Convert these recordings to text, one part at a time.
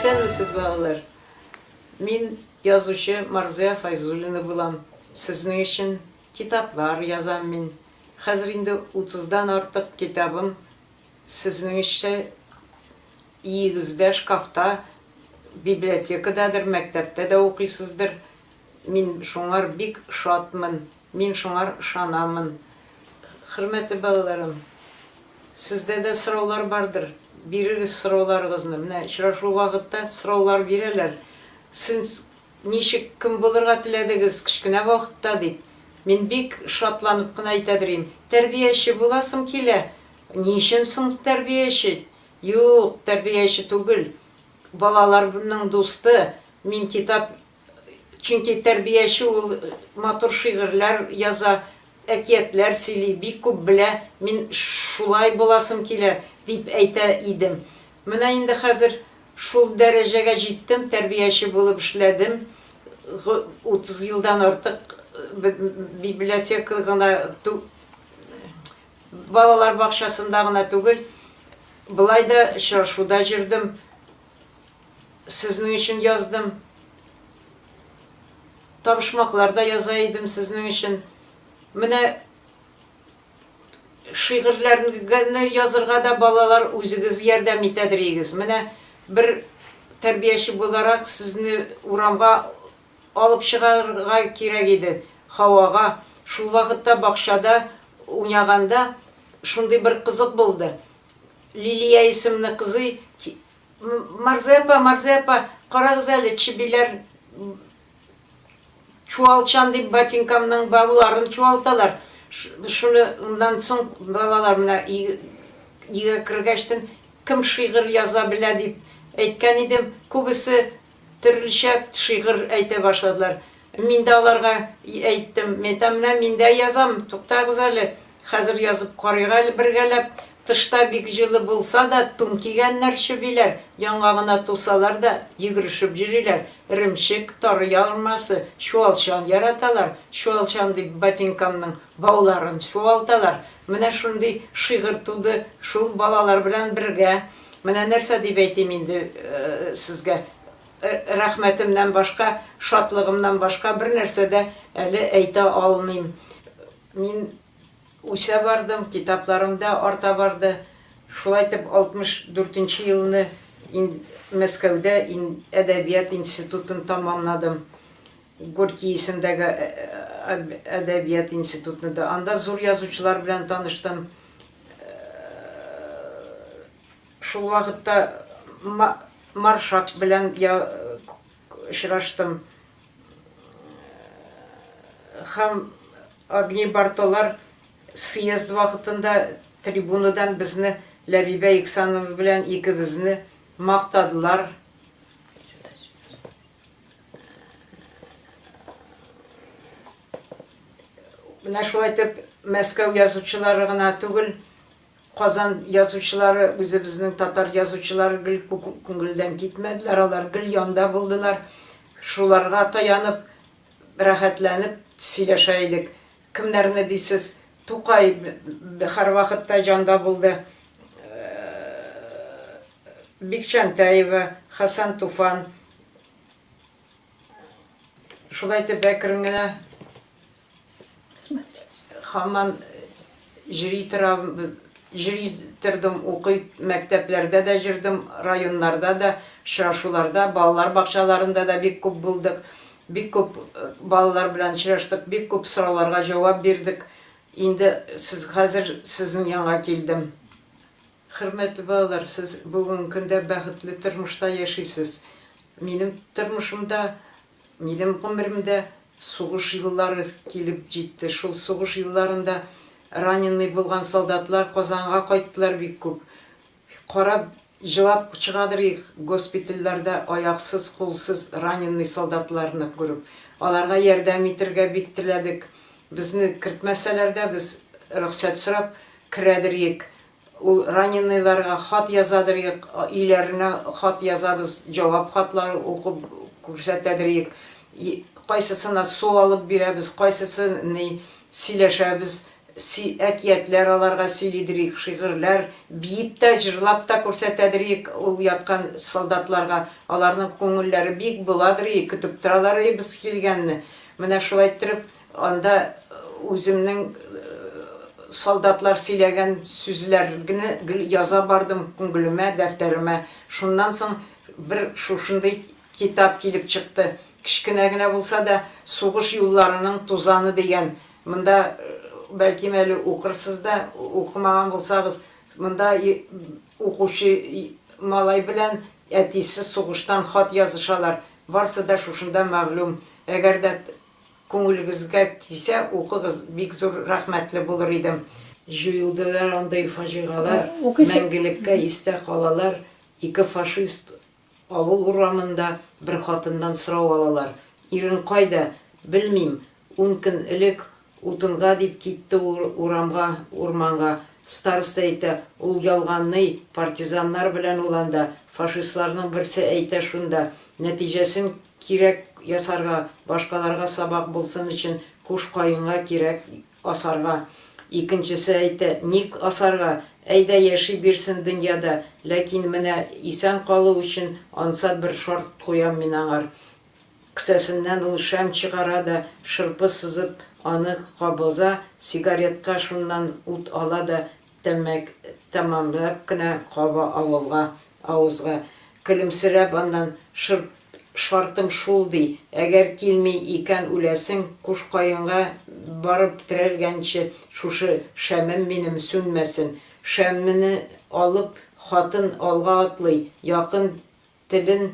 Исәнмесез балалар! Мин язучы Марзыя Файзуллина булам. Сезнең өчен китаплар язам мин. Хәзер инде утыздан артык китабым сезнең өччә Өегездә шкафта, библиотекададыр, мәктәптә дә укыйсыздыр. Мин шуңар бик шатмын. Мин шуңар ышанамын. Хөрмәтле балаларым, сездә дә сораулар бардыр. Бирегез сорауларыгызны. Менә очрашу вакытта сораулар бирәләр. Сез ничек, кем булырга теләдегез кечкенә вакытта, дип. Мин бик шатланып кына әйтә дөрим, Тәрбияче буласым килә. Ни өчен соң тәрбияче? Юк, тәрбияче түгел. Балаларның дусты. Мин китап Чөнки тәрбияче ул матур шигырьләр яза, әкиятләр сөйли, бик күп белә, мин шулай буласым килә, дип әйтә идем. Менә инде хәзер шул дәрәҗәгә җиттем, тәрбияче булып эшләдем, 30 елдан артык библиотека гына Балалар бакчасында гына түгел, болай да очрашуда җөрдем, сезнең өчен яздым. Табышмаклар да яза идем сезнең өчен. Менә шигырьләрне язырга да балалар үзегез ярдәм итәдерегез. Менә бер тәрбияче буларак сезне урамга Алып чыгарырга кирәк иде һавага. Шул вакытта бакчада уйнаганда шундый бер кызык булды. Лилия исемле кызый ки-, Марзый апа, Марзый апа, карагыз әле, чебиләр чуалчан дип ботинкамның бауларын чуалталар. Шуны ннан соң балалар менә өйгә кергәчтен, кем шигырь яза белә дип әйткән идем, күбесе Төрлечә шигырь әйтә башладылар. Мин дә аларга әйттем, мин әйтәм, менә мин дә язам, туктагыз әле, хәзер язып карыйк әле бергәләп. Тышта бик җылы булса да, тун кигәннәр чебиләр, яңагына тусалар да, йөгерешеп йөриләр. Эремчек, тары ярмасы, чуалчан яраталар. Чуалчан дип ботинкамның бауларын чуалталар. Менә шундый шигырь туды шул балалар белән бергә. Менә нәрсә дип әйтим инде сезгә, рәхмәтемнән башка, шатлыгымнан башка бернәрсә дә әле әйтә алмыйм. Мин үсә бардым, китапларым да арта барды. Шулай итеп, 64 нче елны Мәскәүдә әдәбият институтын тәмамладым. Горький исемдәге әдәбият институтны да. Анда зур язучылар белән таныштым. Шул вакытта Маршак белән очраштым. Һәм Огни Бартолар съезд вакытында трибунадан безне, Ләбибә Иксанова белән икебезне мактадылар. Менә шулай итеп Мәскәү язучылары гына түгел, Казан язучылары, үзебезнең татар язучылары гел күңелдән китмәделәр, алар гел янда булдылар. Шуларга таянып, рәхәтләнеп сөйләшә идек. Кемнәрне дисез, Тукай һәрвакытта җанда булды. Бик Җантәева, Хәсән Туфан. Шулай итеп әкрен генә һаман җри торам, җри тордым, укый мәктәпләрдә дә җөрдем, районнарда да, очрашуларда, балалар бакчаларында да бик күп булдык. Бик күп балалар белән очраштык, бик күп сорауларга җавап бирдек. Инде сез хәзер сезнең янга килдем. Хөрмәтле балалар, сез бүгенге көндә бәхетле тормышта яшисез. Минем тормышымда, минем гомеремдә сугыш еллары килеп җитте. Шул сугыш елларында раненый булган солдатлар Казанга кайттылар бик күп. Карап, җылап чыгадыр их, госпитальләрдә аяксыз, кулсыз раненный солдатларны күреп. Аларга ярдәм итергә бик теләдек. Безне кертмәсәләр дә, без рөхсәт сорап керәдер ек. Ул раненыйларга хат язадыр ек, өйләренә хат язабыз, җавап хатлары укып күрсәтәдер ек. Кайсысына су алып бирәбез, кайсысы ни, сөйләшәбез. Си, әкиятләр аларга сөйлидер ик, шигырьләр, биеп тә, җырлап та күрсәтәдер ик ул яткан солдатларга, аларның күңелләре бик буладыр ик, көтеп торалар ый без килгәнне. Менә шулай иттереп, анда үземнең солдатлар сөйләгән сүзләргне гел яза бардым күңелемә, дәфтәремә. Шуннан соң бер шушындый Китап килеп чыкты. Кечкенә генә булса да, Сугыш юлларының тузаны дигән. Монда, бәлкем әле укырсыз да, укымаган булсагыз, монда укучы малай белән әтисе сугыштан хат язышалар. Барсы да шушында мәгълүм. Әгәр дә күңелегезгә тисә, укыгыз, бик зур рәхмәтле булыр идем. Җуелдылар андый фаҗигалар, мәңгелеккә истә калалар, ике фашист Авыл урамында бер хатыннан сорау алалар, Ирең кайда? Белмим, ун көн элек утынга дип китте ул урамга, урманга. Староста әйтә, Ул ялганный, партизаннар белән ул анда, фашистларның берсе әйтә шунда. Нәтиҗәсен кирәк ясарга, башкаларга сабак булсын өчен Куш Каенга кирәк Асарга. Икенчесе әйтә, Ник асарга? Әйдә, яши бирсен дөньяда, ләкин менә исән калу өчен ансат бер шарт куям мин аңар. Ксәсеннән ул шәм чыгара да, шырпы сызып, аны кабыза, сигаретка шуннан ут ала да, Тәмәк тәмамлап кына каба авылга, авызга. Көлемсерәп аннан, Шырп, шартым шул, ди, әгәр килми икән үләсең, куш каенга барып терәлгәнче шушы шәмем минем сүнмәсен. Шәмне алып, хатын алга атлый, якын Телен,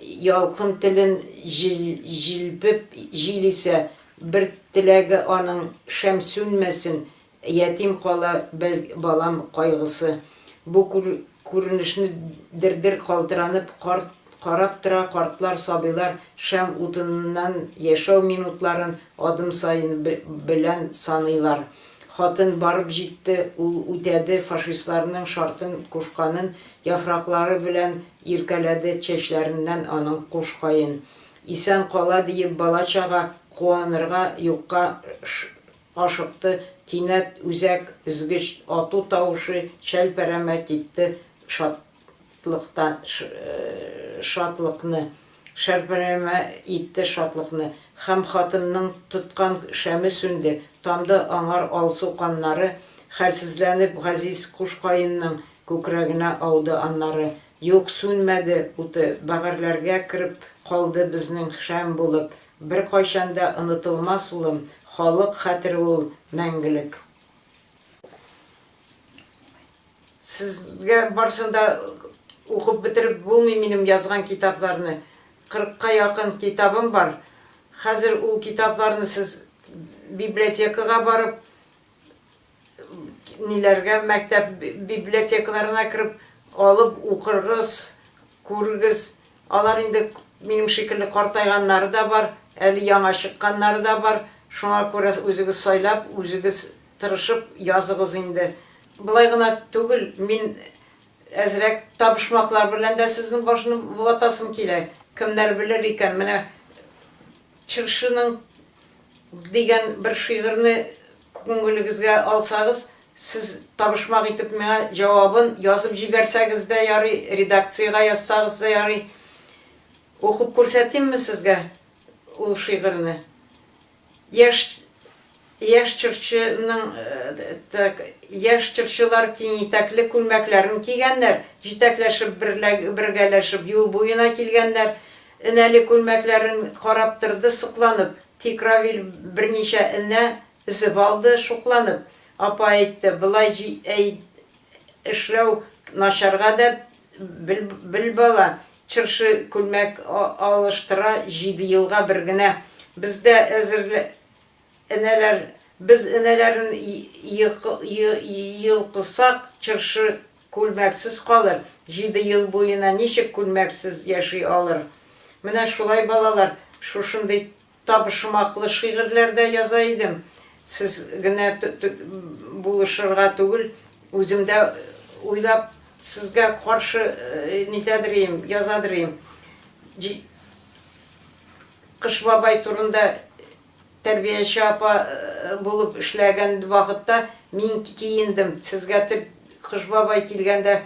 ялкын телен җил-җилпеп җил исә, бер теләге аның, шәм сүнмәсен, ятим кала бәл балам кайгысы. Бу күр-күренешне дер-дер калтыранып карт карап тора картлар, сабыйлар шәм утыныннан яшәү минутларын адым саен бе белән саныйлар. Хатын барып җитте, ул үтәде, фашистларның шартын кушканын Яфраклары белән иркәләде чәчләреннән аның куш каен. Исән кала диеп бала-чага куанырга юкка ашыкты Кинәт үзәк өзгеч ату тавышы чәлпәрәмә китте шатлыктан шатлыкны шәрпәрәмә итте шатлыкны Һәм хатынның тоткан шәме сүнде Тамды аңар алсу каннары Хәлсезләнеп газиз куш каенның Күкрәгенә ауды аннары. Юк, сүнмәде уты, бәгырьләргә кереп калды безнең шәм булып. Беркайчан да онытылмас, улым, халык хәтере ул, мәңгелек. Сезгә барсын да укып бетереп булмый минем язган китапларны. Кырыкка якын китабым бар. Хәзер ул китапларны сез библиотекага барып, Ниләргә мәктәп библиотекаларына кереп, алып укыргыз, күрегез. Алар инде минем шикелле картайганнары да бар, әле яңа чыкканнары да бар. Шуңа күрә үзегез сайлап, үзегез тырышып языгыз инде. Болай гына түгел, мин әзрәк табышмаклар белән дә сезнең башны ватасым килә. Кемнәр белер икән, менә Чыршының дигән бер шигырьне күңелегезгә алсагыз, сез табышмак итеп миңа җавабын язып җибәрсәгез дә ярый, редакциягә язсагыз да ярый. Укып күрсәтимме сезгә ул шигырьне? Яшь. Яшь җырчы ның так, яшь җырчылар киң итәкле күлмәкләрен кигәннәр, җитәкләшеп, бергәләшеп юл буена килгәннәр. Энәле күлмәкләрен карап торды сокланып. Тик Равил берничә энә өзеп алды шукланып. Апа әйтте, Болай әй эшләү начар гадәт, бел бала, җырчы күлмәк алыштыра җиде елга бер генә. Бездә Энәләр, без энәләрен йолкысак, чыршы күлмәксез калыр, җиде ел буена ничек күлмәксез яши алыр? Менә шулай, балалар, шушындый табышмаклы шигырьләр дә яза идем, сез генә булышырга түгел, үзем дә уйлап, сезгә каршы нитәдер ем, язадыр ем. Кыш бабай турында тәрбияче апа булып эшләгән вакытта мин киендем. Сезгә тел Кыш бабай килгәндә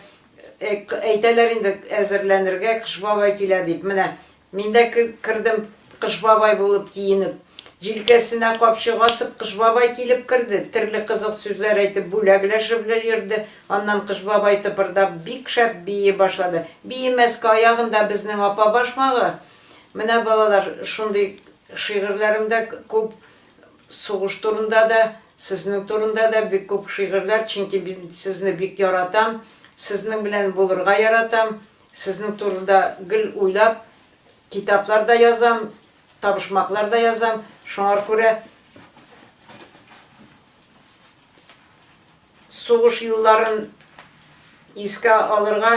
әйтәләр инде әзерләнергә, Кыш бабай килә дип. Менә мин дә кердем Кыш бабай булып киенеп. Җилкәсенә капчык асып, Кыш бабай килеп керде. Төрле кызык сүзләр әйтеп, бүләкләшеп йөрде. Аннан Кыш бабай тыпырдап бик шәп бии башлады. Биемәскә аягында безнең апа башмагы. Менә балалар, шундый шигырьләрем дә күп, сугыш турында да, сезнең турында да бик күп шигырьләр, чөнки мин сезне бик яратам, сезнең белән булырга яратам, сезнең турында гел уйлап, китаплар да язам, табышмаклар да язам, шуңар күрә сугыш елларын искә алырга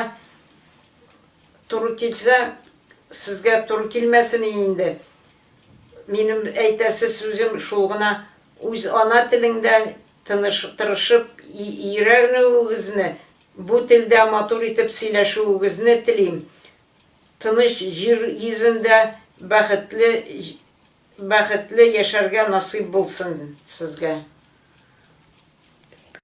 Туры килсә, сезгә туры килмәсен и инде. Минем әйтәсе сүзем шул гына, үз ана телеңдә тыныш, тырышып йөрәнүегезне, бу телдә матур итеп сөйләшүегезне телим. Тыныч җир йөзендә бәхетле, бәхетле яшәргә насыйп булсын сезгә.